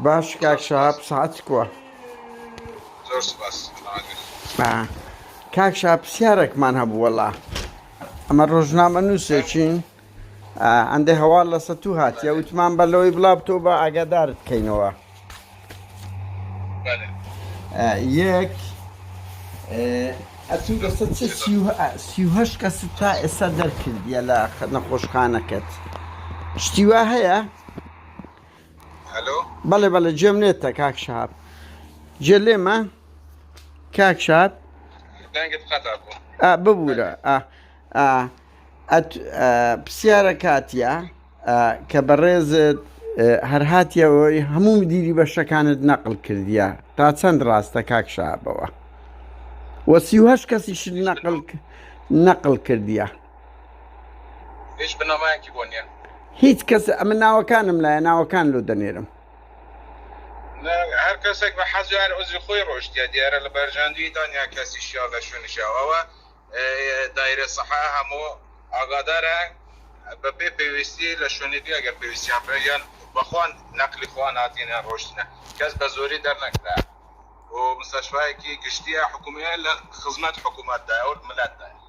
باش کاک شەهاب سەعات کووە زۆر سپاس کاک شا پرسیارێکمان هەبوو وەڵا ئەمە ڕۆژنامە نووسێکین ئەندێ هەواڵ لە سەتوو هاتیە وتمان بە لەوەی بڵا بتۆ بە ئاگادار بکەینەوە یەک ئەتوو لەسە چ سیهش کەس تا ئێستا دەرکردیە لە نەخۆشخانەکەت شتیوا هەیە؟ بەڵێ بەڵێ جێم نێتە کاک شاب جێ لێمە کاک شاب ببوورە پرسیارە کاتیا کە بەڕێزت هەرهاتیەوەی هەموو دیری بەشەکانت نەقل کردیە تا چەند ڕاستە کاک شابەوە وەسیهش کەسیش نەقل نەقل کردیە هیچ بنەمایەکی بۆ نییە. هیچ کەس ئەمن ناوەکانم لایە ناوەکان لۆ دەنێرم. هەر کەسێک بە حەز هەر عزی خۆی ڕۆشتە دیارە لە بەرژاندوی دانیا کەسی شیا لە شوێنی شیا ئەوە دایرە سەحە هەموو ئاگادارە بە پێ پێویستی لە شوێنی دی ئەگەر پێویستیان پێ یان بەخوان نەقلی خوان هاتینە ڕۆشتنە کەس بە زۆری دەرنەکرا و مستەشفایەکی گشتیە حکومیە لە خزمەت حکوومەتدا ئەو ملەتدا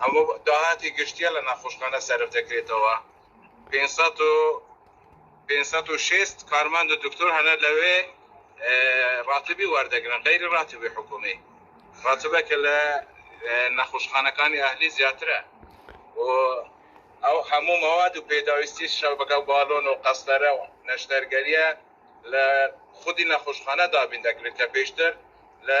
ئەمە داهاتی گشتییە لە نەخۆشخانە سەرف دەکرێتەوە، پێنج سەد و پێنج سەد و شەست کارمەند و دکتۆر هەنە لەوێ ڕاتبی وەردەگرن غەیری ڕاتبی حکوومی، ڕاتبە کە لە نەخۆشخانەکانی ئەهلی زیاترە و ئەو هەموو مەواد و پێداویستی شەبەکە و بالۆن و قەستەرە و نەشتەرگەرییە لە خودی نەخۆشخانە دابین دەکرێت کە پێشتر لە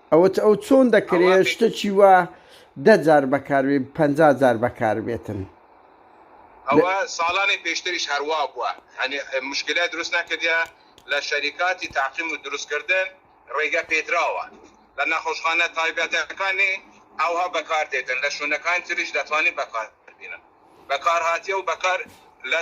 ئەوەت ئەو چۆن دەکرێ شتەکی وا دە جار بەکاربێ پەنجا جار بەکاربێتن. ئەوە ساڵانی پێشتریش هەروابوە هەنێ مشکلە دروست نەکردە لە شەریکاتی تاقیم و دروست کردن ڕێگە پێدراوە لە نەخۆشخانە تایبەتەکانی ئەوها بەکار دێتن لە شونەکانی تریش دەتوانین بەکار بینن بەکار هاتیە و بەکار لە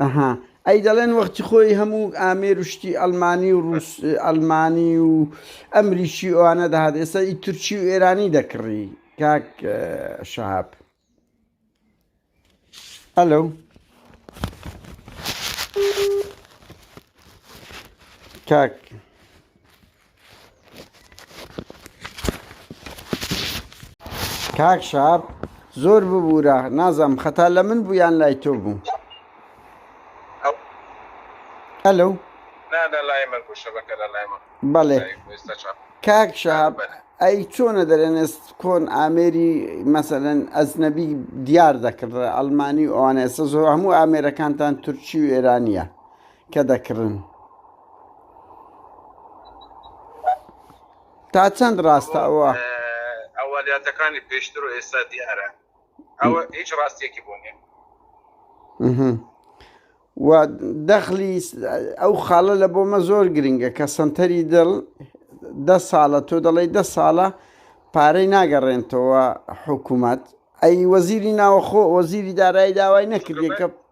ئەها ئەی دەڵێن وەختی خۆی هەموو ئامێر و شتی ئەلمانی و ڕوس ئەلمانی و ئەمریکی ئەوانە دەهات ئێستا ئی تورکی و ئێرانی دەکڕی کاک شەهاب ئەلو کاک کاک شاب زۆر ببوورە نازم خەتا لە من بوو یان لای تۆ بوو ئەلو بەڵێ کاک شاب ئەی چۆنە دەرێنست کۆن ئامێری مەسەن ئەزنەبی دیار دەکرد ئەلمانی ئەوانە ئێستا زۆر هەموو ئامێرەکانتان تورکی و ئێرانە کە دەکڕن. تا چەند ڕاستە ئەوە؟ ئەوەلیاتەکانی پێشتر و ئێستا دیارە ئەوە هیچ ڕاستیەکی بۆ نیە. و دەخلی ئەو خاڵە لە بۆمە زۆر گرنگە کە سنتەری دڵ دە ساڵە تۆ دەڵی دە ساڵە پارەی ناگەڕێنتەوە حکوومەت ئەی وەزیری ناوەخۆ وەزیری دارایی داوای نەکردێکە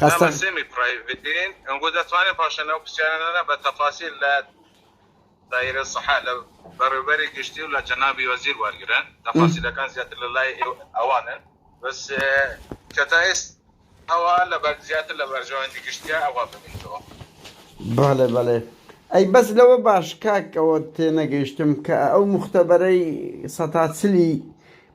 خەستە. بەڵێ بەڵێ ئەی بەس لەوە باش کاک ئەوە تێنەگەیشتم کە ئەو موختەبەرەی سەتا چلی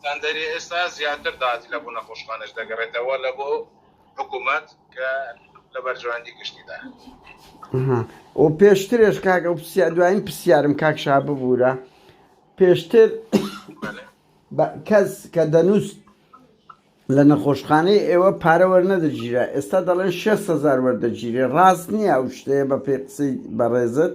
ستاندەری ئێستا زیاتر داهاتی لە بۆ نەخۆشخانەش دەگەڕێتەوە لە بۆ حکوومەت کە لە بەرژەوەندی گشتی دایە. و پێشترێش کاک ئەو پرسیار دوایین پرسیارم کاک شا ببوورە پێشتر بە- کەس کە دەنووست لە نەخۆشخانەی ئێوە پارە وەرنەدەگیرا ئێستا دەڵێن 600 هەزار وەردەگیرێ ڕاست نییە ئەو شتەیە بە پێی قسەی بەڕێزت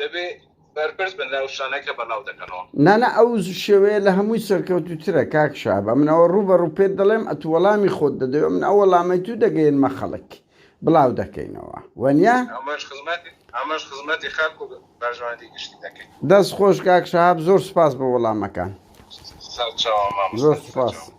دەبێ بەرپرس بن لەو شتانە کە بەناو دەکەنەوە. نانا ئەو شێوەیە لە هەمووی سەرکەوتوترە کاک شابە من ئەوە ڕوو بە ڕوو پێت دەڵێم ئەتو وەڵامی خۆت دەدەوێ من ئەو وەڵامەی تو دەگەینمە خەڵک بڵاو دەکەینەوە وەنیا ئەمەش خزمەت ئەمەش خزمەتی خەڵک و بەرژەوەندی گشتی دەکەین دەست خۆش کاک شاب زۆر سپاس بە وەڵامەکان سەرچاوە مامۆستا زۆر سپاس سەرچاوە.